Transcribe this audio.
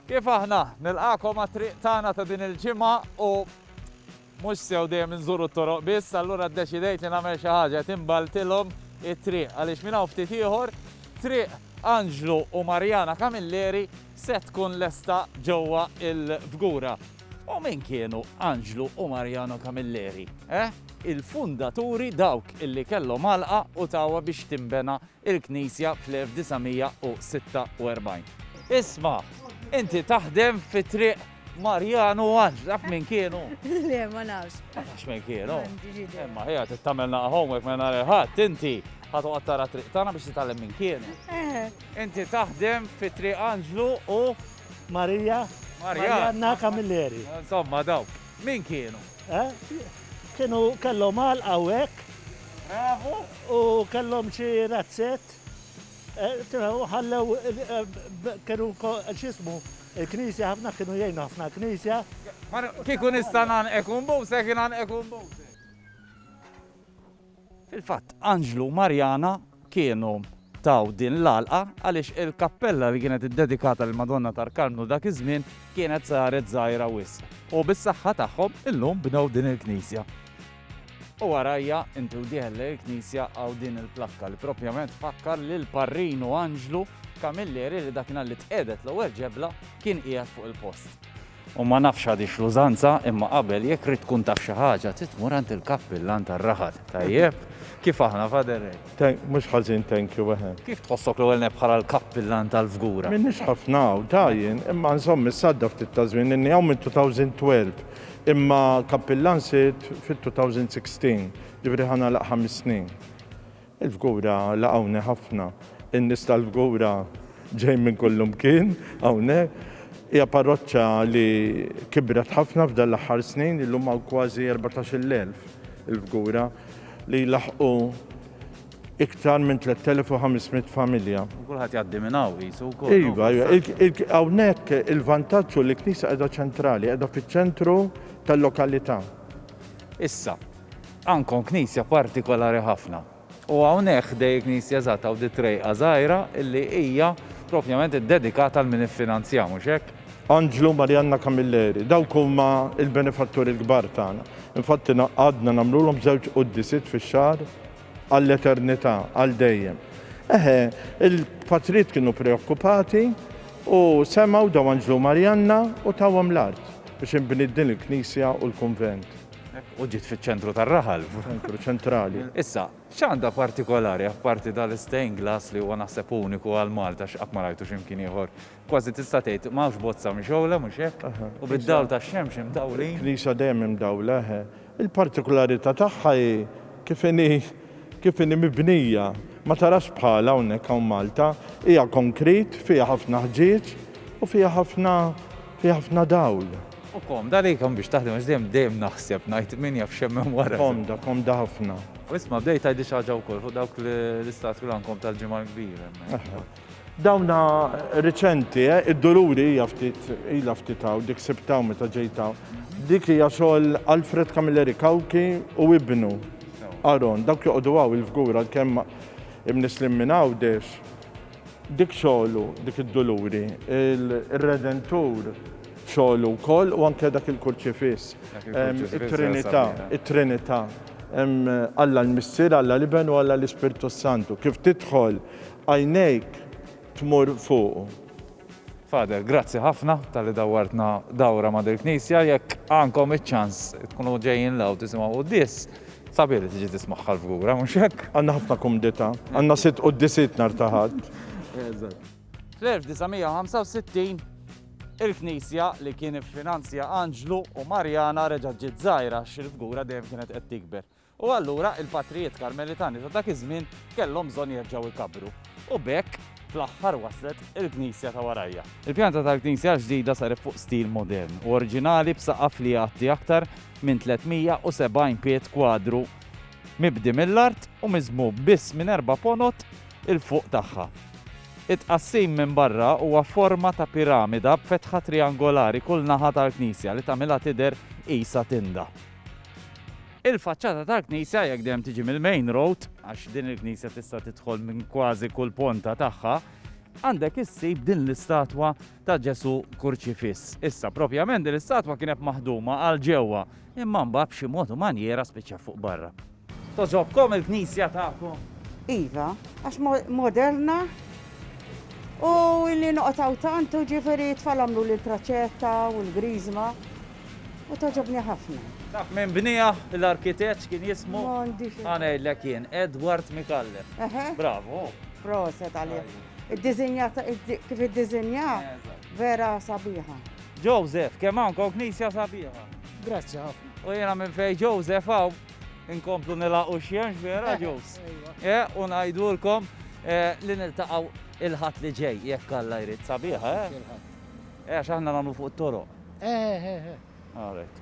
Kif aħna nilqakom għat-triq tagħna ta' din il-ġimgħa u mhux sew dejjem inżuru t-toroq biss, allura ddeċidejt li nagħmel xi ħaġa qed inbaltilhom it-triq għaliex minn hawn ftit ieħor triq Anġlu u Marjana Camilleri se tkun lesta ġewwa il-Fgura. U min kienu Anġlu u Marjana Camilleri? Eh? Il-fundaturi dawk illi kellhom għalqa u tawa biex timbena il-Knisja fl-1946. Isma', inti taħdem fi Triq Marjan u Għanġ, taf min kienu? Le, ma nafx. Ma nafx min kienu. Imma ħija tittamel naqa homework ma nara ħadd inti ħatu għattara triq tagħna biex titgħallem min kienu. Eh. Inti taħdem fi Triq Anġlu u Marija Marjanna Kamilleri. Insomma daw, min kienu? Eh? Kienu kellhom għal hawnhekk Bravu! U kellhom xi razzett. Tifhem, ħallew kienu x'ismu, il-Knisja ħafna kienu jgħinu ħafna l-Knisja. Kieku nista' ngħannqek u nbusek, ingħannqek u nbusek. Fil-fatt, Anġlu u Marjana kienu taw din l-għalqa għaliex il-kappella li kienet iddedikata lill-Madonna tal-Karmnu dak iż-żmien kienet saret żgħira wisq u bis-saħħa tagħhom illum bnew din il-knisja. U warajja, inti u dieħel lejn il-knisja hawn din il-plakka li propjament tfakkar lil Parrinu Anġlu Camilleri li dakinhar li tqiegħdet l-ewwel ġebla kien qiegħed fuq il-post. U ma nafx għadiex l-użanza, imma qabel jekk ridt tkun taf xi ħaġa trid tmur għand il-kappillan tar-raħal. Tajjeb? Kif aħna, Father Ray? Thank, mhux ħażin thank you, eħe. Kif tħossok l-ewwel nett bħala l-kappillan tal-Fgura? M'iniex ħafna hawn, ta' jien, imma nżomm is-sadda ftit ta' żmien, inni hawn mit-2012, imma kappillan sirt fit-2016, jiġifieri ħa nagħlaq ħames snin. Il-Fgura laqgħuni ħafna. In-nies tal-Fgura ġejjin minn kullimkien hawnhekk. Hija parroċċa li kibret ħafna f'dan l-aħħar snin, illum hawn kważi erbatax-il elf il-Fgura li jlaħħqu iktar minn tlett elef u ħames mitt familja. U kulħadd jgħaddi minn hawn qisu wkoll. Iva, iva. Hawnhekk il-vantaġġ hu li l-knisja qiegħda ċentrali, qiegħda fiċ-ċentru tal-lokalità. Issa, Għandkom knisja partikolari ħafna. U hawnhekk ħdej il-knisja eżatt hawn di trejqa żgħira illi hija propjament iddedikata għal min iffinanzjaha, mhux hekk? Anġlu, Marianna Camilleri. Dawk huma l-benefatturi l-kbar tagħna. Infatti għadna nagħmlulhom żewġ quddisiet fix-xahar għall-eternità, għal dejjem. Eħe, il-patrijiet kienu preokkupati u semgħu daw Anġlu u Marianna u tawhom l-art biex inbniet din il-knisja u l-kunvent. U ġiet fiċ-ċentru tar-raħal. Ċentru ċentrali. Issa, x'għandha partikolari apparti dal-stained glass li huwa naħseb uniku għal Malta x'qatt ma rajtu xi mkien ieħor. Kważi tista' tgħid m'hawnx bozza mixgħula, mhux hekk? U bid-dawl tax-xemx imdawlin. Il-knisja dejjem imdawla, eħe. Il-partikularità tagħha hi kif inhi kif inhi mibnija. Ma tarax bħalha hawnhekk hawn Malta. Hija konkrit, fiha ħafna ħġieġ u fiha ħafna fiha ħafna dawl. U komda li kemm biex taħdem għax dejjem dejjem naħseb ngħid min jaf x'hemm hemm wara. Komda, komda ħafna. U isma' bdejt tgħidli xi ħaġa wkoll fuq dawk l-istatwi l-għandkom tal-Ġimgħa l-Kbira hemmhekk. Dawna riċenti, eh? Id-Duluri hija ftit ilha ftit hawn, dik sibtha hawn meta ġejt hawn. Dik hija xogħol Alfred Camilleri Cauchi u ibnu Aaron. Dawk joqogħdu hawn il-fgura għalkemm imnislin minn Għawdex. Dik xogħlu, dik id-duluri, ir-Redentur xogħlu wkoll u anke dak il-Kurċifiss. It-Trinità, it-Trinità, Alla l-Missier, Alla l-Iben u Alla l-Ispirtu s-Santu. Kif tidħol, għajnejk tmur fuqu. Father, grazzi ħafna talli dawwartna dawra ma' dil-knisja, jekk għandkom iċ-ċans tkunu ġejjin 'l hawn tisimgħu quddies, sabiħ li tiġi tismagħha l-fgura, mhux hekk? Għandna ħafna kumdità, għandna sitt quddiesiet nhar ta' Ħadd. Eżatt. Fl-1965, il-knisja li kien iffinanzja Anġlu u Marjana reġgħet ġiet żgħira għax il-fgura dejjem kienet qed tikber. U allura il-patrijiet Karmelitani ta' dak iż-żmien kellhom bżonn jerġgħu jkabbru. U b'hekk, fl-aħħar waslet il-knisja ta' warajja. Il-pjanta tal-knisja l-ġdida saret fuq stil modern u oriġinali b'saqaf li jgħatti aktar minn 370 pied kwadru mibdi mill-art u miżmum biss minn erba' ponot 'il fuq tagħha. It-tqassim minn barra huwa f'forma ta' piramida b'fetħa triangolari kull naħa tal-knisja li tagħmilha tidher qisha tinda. Il-faċċata tal-knisja, jekk dejjem tiġi mill-main road, għax din il-knisja tista' tidħol minn kważi kull ponta tagħha, għandek issib din l-istatwa ta' Ġesù kurċifiss. Issa, propjament din l-istatwa kienet maħduma għal ġewwa, imma mbagħad b'xi mod u manjiera spiċċat fuq barra. Togħġobkom il-knisja tagħkom? Iva, għax moderna u li noqgħod hawn tant u ġifieri t-tfal għamlu l-praċetta u l-griżma. u togħġobni ħafna. Taf minn bniha l-arkitett kien jismu? Għanajlek jien, Edward Mikalle. Bravo. Proset għalih. Id-dizinja kif id-dizinja vera sabiħa. Joseph, kemm għandkom knisja sabiħa. Grazzi ħafna. U jena minn fej Joseph għaw Inkomplu nilaqu xjenx vera ġus. Eh, u ngħidulkom eh, li niltaqgħu il-ħadd li ġej jekk Alla jrid sabiħa, eh? Eh, għax aħna nagħmlu fuq it-toroq. Eh, eh, eh. Għalhekk.